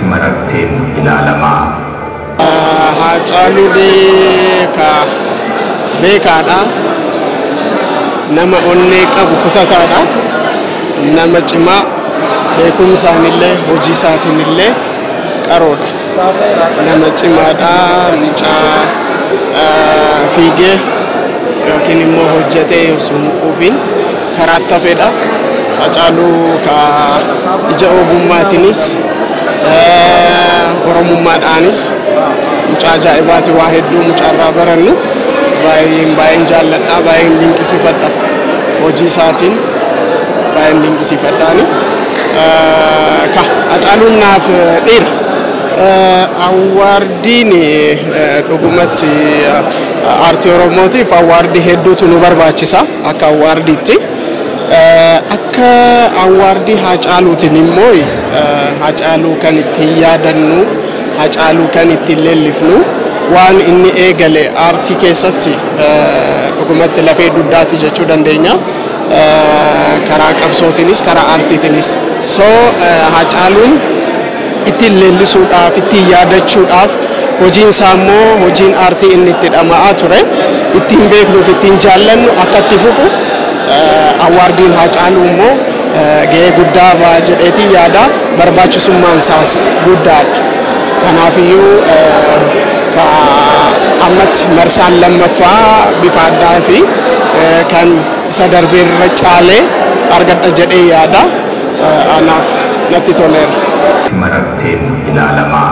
mararteen ilaalamaa. Haacaaluu beekaa beekaadha. Nama onnee qabu kutataadha. Nama cimaa beekumsaan illee hojii isaatiin illee qaroodha. Nama cimaadha mucaa ah, fiigee yookiin immoo hojjetee osoo hin quufiin karaa itti hafedha. Hacaaluu ka ija ogummaatiinis oromummaadhaanis mucaa ajaa'ibaati waa hedduu mucaarraa barannu baay'een baay'een jaalladha baay'een dinqisiifadha hojii isaatiin baay'een dinqisiifadhaani ka hacaaluun naaf dhiira. Awwaardiin dhugumatti aartii oromootiif awwaardii hedduutu nu barbaachisa. Akka awwaardiitti. Akka awwaardii Haacaaluutiin immoo Haacaaluu kan ittiin yaadannu, Haacaaluu kan ittiin leellifnu, waan inni eegale aartii keessatti dhugumatti lafee dugdaati jechuu dandeenya. Karaa qabsootiinis, karaa aartiitiinis. So Haacaaluun. ittiin leellisuudhaaf, ittiin yaadachuudhaaf, hojiin isaa immoo hojiin aartii inni itti dhama'aa ture, ittiin beeknuu fi ittiin jaallannu akka itti fufu Awwaardiin Haacaaluu immoo gahee guddaa ba'a jedheetiin yaada. Barbaachisummaan isaas guddaadha. Kanaafiyyuu ka ammatti marsaan lammaffaa bifa addaa fi kan isa darbee irra caalee argadha jedhee yaada. anaaf natti toleera. Mararteen ilaalamaa.